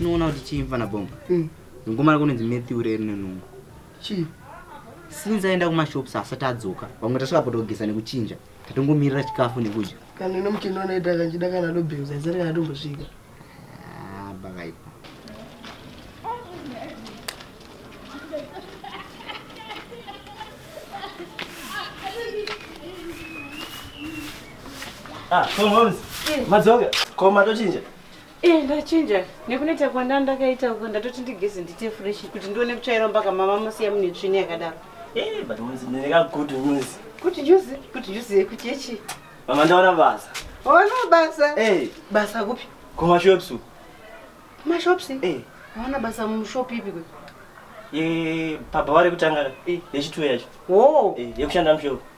sinoona kuti chii mfana bomba mm. ngoma rako nonzi matthew reri nenungu chii since aenda kumashops asati adzoka vamwe tasvika potogesa nekuchinja Tatongomirira chikafu nekudya. Kana ino mutino unoita kanjida kana dobhingu zaisari kana tombosvika. Ah, bakaipa. Ah, come on. Madzoka. Koma tochinja. Eh, ndachinja nekuneta kwanda ndakaita uko ndatoti ndigeze ndiite fresh kuti ndione kutsvaira mpaka mama musiya mune tsvini yakadaro Eh, but mose ndine ka good news. kuti juzi kuti juzi yekuti yechi Mama ndaona basa. ona basa Eh, basa kupi kuma shops. uku. kumashops Eh, ona basa mushop ipi kwe ye baba vari kutanga ka. Eh. Yechituwe yacho. wo Eh, yekushanda mushop.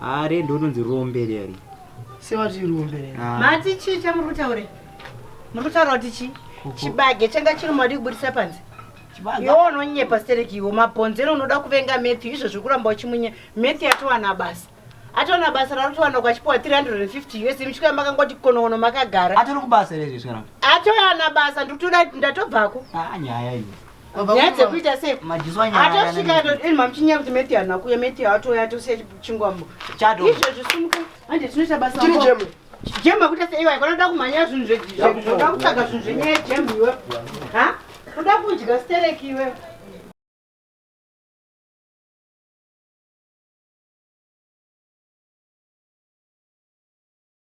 Haa red unonzi rombe leri. Sewati rombe leri. Ah. Mati chii chamuri kutaura? Muri kutaura kuti chii? Chibage changa chiri mwadi kuburitsa panze. Iwo unonyepa stereki iwo mabhonzero unoda kuvenga Matthew izvo zvekuramba uchimunye Matthew atowana basa. Atowana basa rarotowana kwachipuwa 350 US mchiko yamakangoti konowono makagara. Atori kubasa ere izvi zvikaramba? Atowana basa ndikutoda ndatobvako. Ah nyaya iyi. nyaya dzekuita sei atosvika atoti ini mamuchinyaya kuti meti hana kuya meti atoya atosiya chingwambo izvo zvisumuka hande tinoita basa jemu akuita sei iwaye kanoda kumhanya zvinhu zvoda kutsvaga zvinhu zvenyaya jemu iwe ha kuda kudya stereki iwe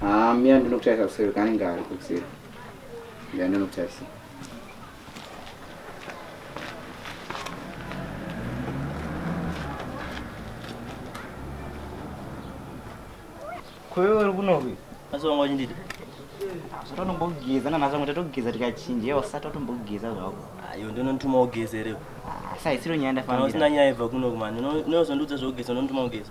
Haa mia ndinokutarisa kuseri kanenge ari kuseri. Mia ndinokutarisa. Kwewe uri kunovi? Asi wanga uchinditi? Zvatonombogeza nanhasi vamwe tatogeza tikachinja iye wasati watombogeza zvako. Ayo ndinonituma ugeze reo. Asi haisiro nyaya ndafambira. Kana usina nyaya ibva kuno kumani. Unozondiudza zvokugeza unonituma ugeze.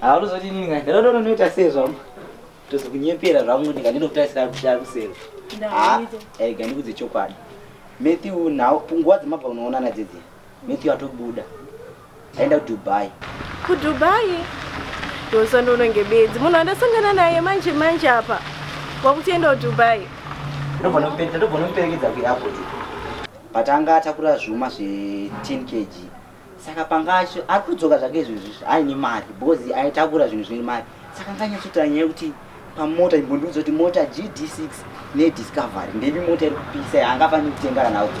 haunozoti nini ngai ndaona unonoita sei zvangu tozokunyepera zvangu ndika ndinokutaisira kushaya kuseri ega ndikudze chokwadi matthew nhau punguwa dzemabva unoonana dzidzi matthew atobuda Ndaenda kuDubai. KuDubai? Ndosandononge bedzi. Munhu andasangana naye manje manje apa. Wakutienda kuDubai. Ndobva nopenda ndobva noperekedza kuairport. But anga atakura zvuma zve 10 kg. Saka panga acho ari kudzoka zvake izvozvi aine mari because aitakura zvinhu zvine mari. Saka anga anyatsotaura nyaya yekuti pamota imbondiudza kuti mota GD6 neDiscovery ndevi mota iri kupisa yaangafaniri kutenga kana auto.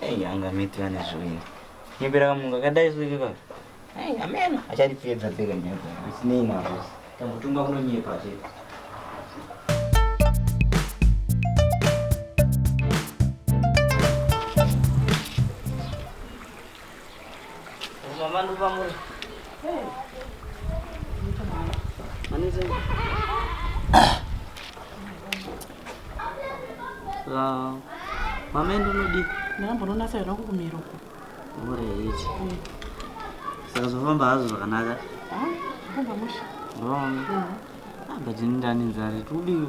Hey, anga miti vane zvoina nyepera kamunga kadai soke ka Hey, ameno acharipedza peka nyepa zvisinei nazvo tangotunga kunonyepa chete Ah, mama enda unodii ndambononasa yona kukumira uko ureit mm. saka zvofamba hazvo zvakanaka ah, mm. ah, but ini ndani nzari tikudiwi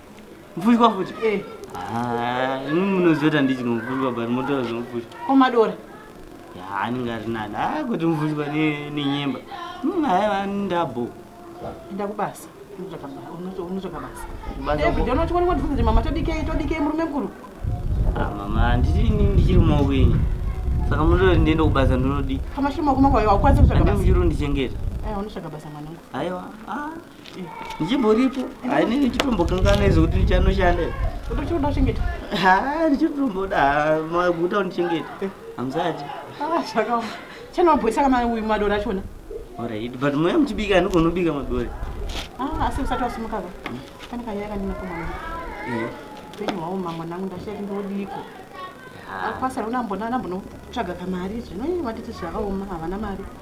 Mfushwa futi? Eh. Ah, imi munoziva kuti ndichino mfushwa but motora zvemufushwa. Ko madora? Ya, anenge ari nani. Ah, kuti mfushwa ne nenyemba. Munhu aiva ndabo. Enda kubasa. Unotsvaka basa. Unotsvaka basa. Basa. Eh, ndono chikoni kwati futi mama todikei todikei murume mkuru. Ah, mama, ndichiri ndichiri maoko enyu. Saka munoda ndiende kubasa ndinodii? Kama shimo kuma kwa hiyo, ukwanise kutsvaka basa. Ndichiri ndichengeta. Eh, unotsvaka basa mwanangu. Aiwa. Ah. ndichimboripo hainini ndichitombokanganwa izo kuti ndichanoshanda utochioda uchengeta ha ndichitomboda maguta undichengeta eh. hamzati ah, zvakaoma chanobhoisa kama uyu madora achona orit but moya muchibika anogona ubika madora ah, asi usati wasumukaka hmm. pane kanyaya kandina kumwana eh. upenyu hwawo mamwa nangu ndashati ndodiko akwasara unambonaambonotsvaga kamari zvino vatiti zvakaoma havana mari ah.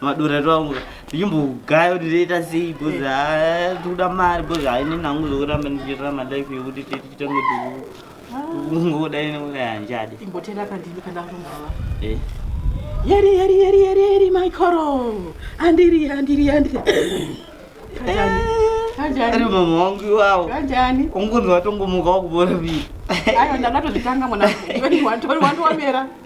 madora twangu ndichimbogaya kuti toita sei bcoz tikuda mari bcoz haine nangu zvokuramba ndichiitira malife yekuti titange ungodai neuraya hanjadi imbotenda pandini pandakumbava eh. yeri yeri yeri yeri yeri maikoro andiri andiri andiri ari mama wangu iwawo kanjani ungonzi watongomuka wakubora vii ayo ndangatozvitanga mwana wamera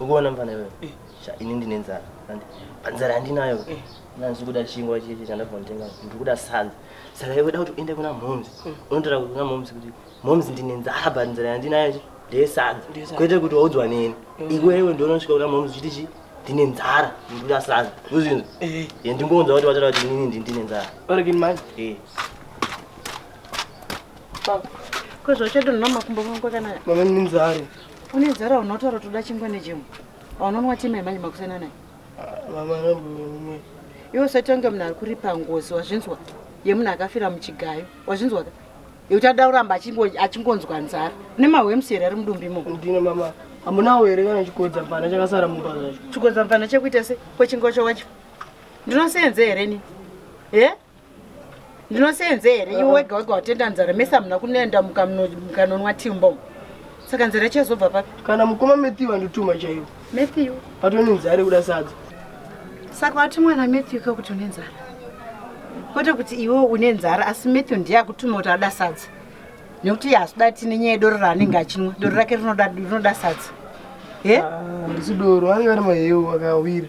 ukuona mfana iwewe eh. ini ndine nzara panzara yandinayo eh. nanzi kuda chingwa chichi chandabva nditenga ndikuda sadza saka iwe da kuti uende kuna momzi eh. unotora kuna momzi kuti momzi ndine nzara but nzara yandinayo chi ndeyesadza kwete kuti waudzwa neni iwewe ndionosvika kuna momzi chiti chi ndine nzara ndikuda sadza uzvinzi ndingonzwa kuti wataura kuti inini ndini ndine nzara kwezvauchadonha makumbo mangu akanaka mama nenzara une nzara unotaura toda chingwa nechimwe aunonwa tima yemanje makusana naye ah, mama ramboumwe iwe usati wange munhu ari kuripa ngozi wazvinzwa yemunhu akafira muchigayo wazvinzwa ka yekuti ada kuramba achingonzwa nzara une mahwemusi here ari mudumbi mo ndine mama hamunawo here kana chikodza mvana chakasara mumba zvacho chikodza mvana chekuita se kwechingwa chawacho ndinosenze here ni e yeah? ndinoseenze here iwe wega wega watenda nzara mese hamuna kunenda mukanonwa timbo saka nzara ichazobva papi kana mukoma matthew andituma chaiwo matthew patone nzara yekuda sadza saka wati mwana matthew kakuti une nzara kwete kuti iwe une nzara asi matthew ndiye akutuma kuti ada sadza nekuti iye hazoda tine nyaya yedoro raanenge achinwa doro rake rinoda sadza e ah, ndisi doro ange ari mahewu akawira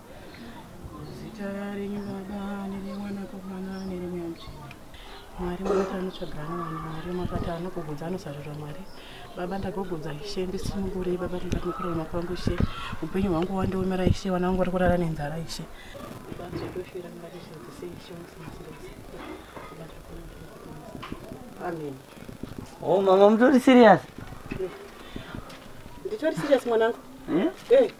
mwari makati anotsvagana vanhu mwari makati anogogodza anosarura mwari baba ndagogodza ishe ndisunungurei baba tingati mukurarama kwangu ishe upenyu hwangu wandiomera ishe vana vangu vari kurara nenzara ishe amen oh mama mutori serious nditori serious mwanangu eh? eh.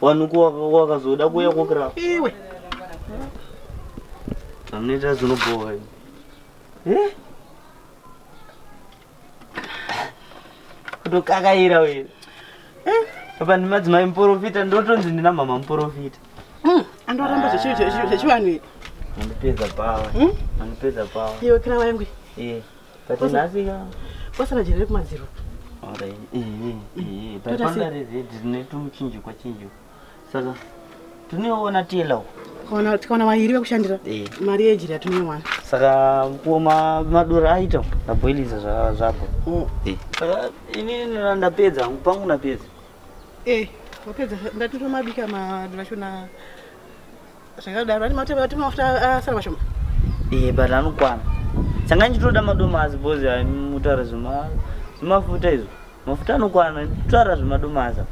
Wanu wakazoda kuya kokira. Iwe. Anoita zvinobhowa. Eh? Kutokakaira wewe. Eh? Apa ndi madzimai muporofita ndotonzi ndina mama muporofita. Mm, andoramba zvechivanhu. Andipedza pawa. Mm? Andipedza pawa. Iwe kira wangu. Eh. But nhasi ka. Kwasara jere kumadziro. Alright. Eh eh eh. But panda rezi dzine tumuchinjikwa chinjikwa. Saka tuneona tiyela uko. Kona tikaona mairi vekushandira. Eh. Mari yejira tunewana. Saka kuma madura aita ndaboiliza zva zvapo. Mm. Eh. Saka ini ndapedza pangu napedza. Eh. Wapedza ndatura mabika madura shona. zvakadaro ati mafuta ati mafuta asara mashoma eh but anokwana sanga ndichitoda madomasi bozi mutaura zvema zvemafuta izvo mafuta anokwana tutaura zvemadomasa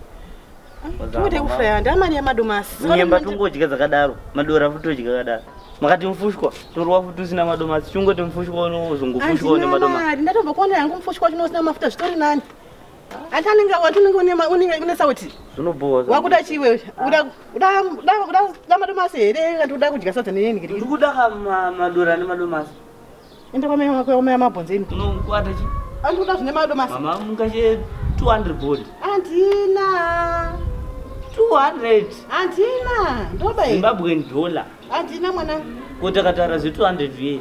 tikuti kufaya ndamari yemadomasi nyemba tungodya dzakadaro madora futi todya kadaro makati mufushwa torwa futi usina madomasi chingoti mufushwa unozongofushwa une madomasi ndatombokuonera yangu mufushwa chino usina mafuta zvitori nani atanenge wati unenge unema unenge une sauti zvinobhowa wakuda chii wewe uda uda uda uda uda madomasi here kana uda kudya sadza neyeni ngiri ndikuda ka ma- madora nemadomasi enda kwa mai wako wamaya mabhonzo imi unokwata chi andikuda zvine madomasi mama mungache 200 board andina 200 andina ndoba here zimbabwean dollar andina mwana ko takatara zve 200 vye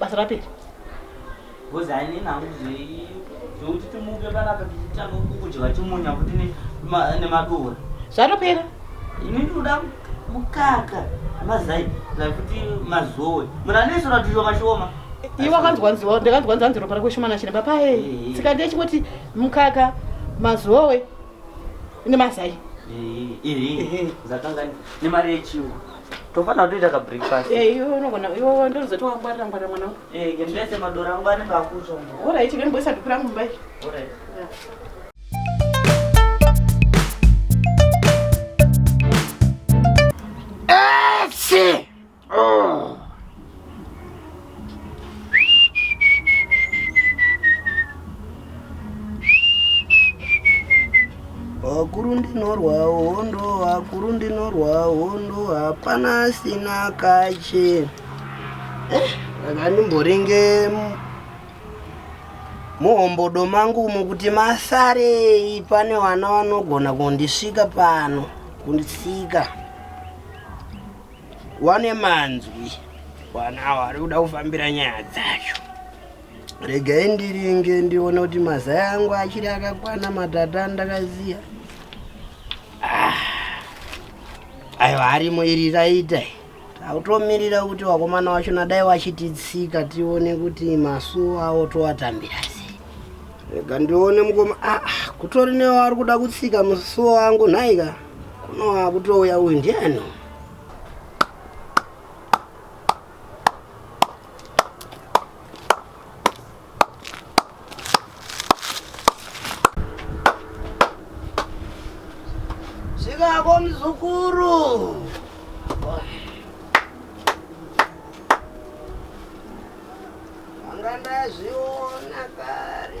basa rapera because hainini hangu zvekuti timuke panapa tichitanga kudya chimunya kuti nemadora zvatopera ini ndinoda mukaka mazai kuti mazowe munhu anese ratizvo mashoma iwe akanzwa nziwa ndakanzwa nzi anzi ropa rako shomana chine papae tsika ndiye chingoti mukaka mazowe nemazai zvakanga nemari yechingwa tofanira kutoita ka breakfast eh iwe unogona iwe ndozoti wangwarira ngwarira mwana wangu eh ngendese madora angu anenge akutsva alright vemboisa dhuku rangu mumba alright yeah. Esse! Oh. Vakuru ndinorwa hondo, vakuru ndinorwa hondo, hapana asina kache. Eh, ndakandimboringe muhombodo mangu umo kuti masarei pane vana vanogona kundisvika pano kundisika wane manzwi wana awo ari kuda kufambira nyaya dzacho regai ndiringe ndione kuti mazaya angu achiri akakwana matata andakaziya ah, ayo harimo iri raita tautomirira kuti wakomana wacho nadai wachititsika tione kuti masuo awo towatambira sei rega ndione mukoma ah, ah kutori newo ari kuda kutsika musuo wangu nhaika Kuno akutouya uyu ndiani? Zvikako mzukuru. Vanga ndazviona kare.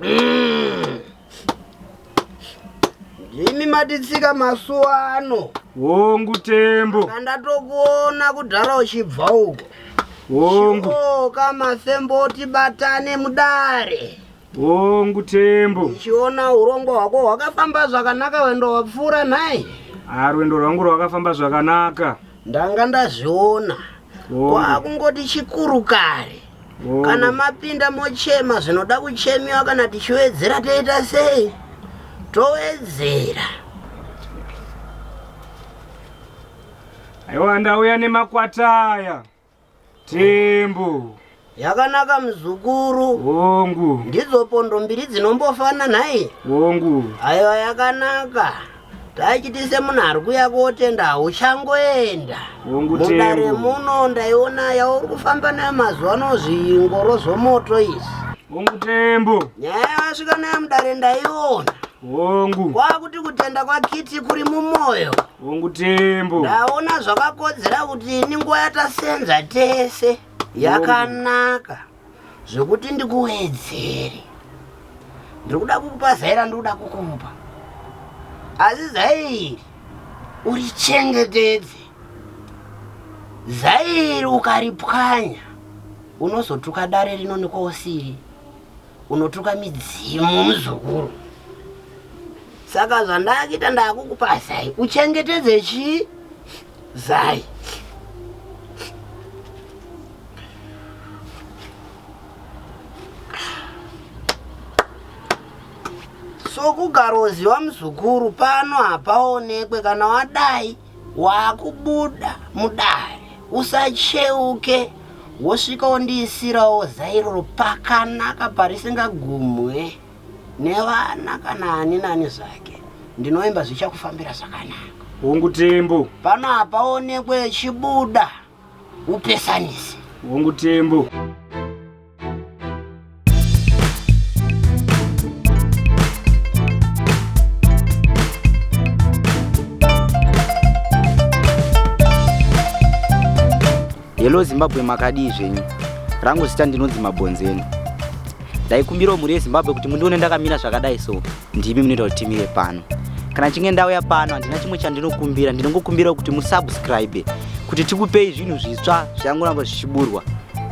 Mm. Imi maditsika masuwa ano. Hongu tembo. Kandatokuona kudhara uchibva uko. Hongu. Shoka masembo tibatane mudare. Hongu tembo. Uchiona urongo hwako hwakafamba zvakanaka wendo wapfuura nhai? Ah, rwendo rwangu rwakafamba zvakanaka. ndanga ndazviona kwakungoti chikuru kare kana mapinda mochema zvinoda kuchemiwa kana tichiwedzera toita sei towedzera aiwa ndauya nemakwata aya Tembo. Yakanaka mzukuru. Hongu. Ndidzo pondo mbiri dzinombofana nhai? Hongu. Aiwa yakanaka. Tachitise munhu ari kuya kotenda hauchangoenda. Hongu tembo. Mudare muno ndaiona yauri kufamba nayo mazuva ano zvingoro zvomoto izvi. Hongu tembo. Nyaya yawasvika nayo mudare ndaiona. Hongu. Kwakuti kutenda kwakiti kuri mumoyo. Hongu Tembo. Ndaona zvakakodzera kuti ini nguva yatasenza tese yakanaka zvekuti ndikuwedzere. Ndiri kuda kukupa zai randikuda kukupa. Asi zai iri urichengetedze. Zai iri ukaripwanya unozotuka dare rino nekwausiri. unotuka midzimu muzukuru saka zvandakuita ndakukupa zai uchengetedze chii zai sokugaroziva muzukuru pano hapaonekwe kana wadai wakubuda mudare usacheuke wosvika wondiisirawo zairoro pakanaka parisingagumwe nevana kana ani nani zvake ndinoimba zvichakufambira zvakanaka hongu tembo pano hapaonekwe chibuda upesanise hongu tembo hello zimbabwe makadii zvenyu rangu zita ndinonzi mabhonzeni ndaikumbirawo mhuri yezimbabwe kuti mundione ndakamira zvakadai so ndimi munoita kuti timire pano kana chinge ndauya pano handina chimwe chandinokumbira ndinongokumbira kuti musubscribe kuti tikupei zvinhu zvitsva zvangoramba zvichiburwa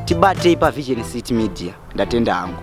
tibatei pavision city media ndatenda hangu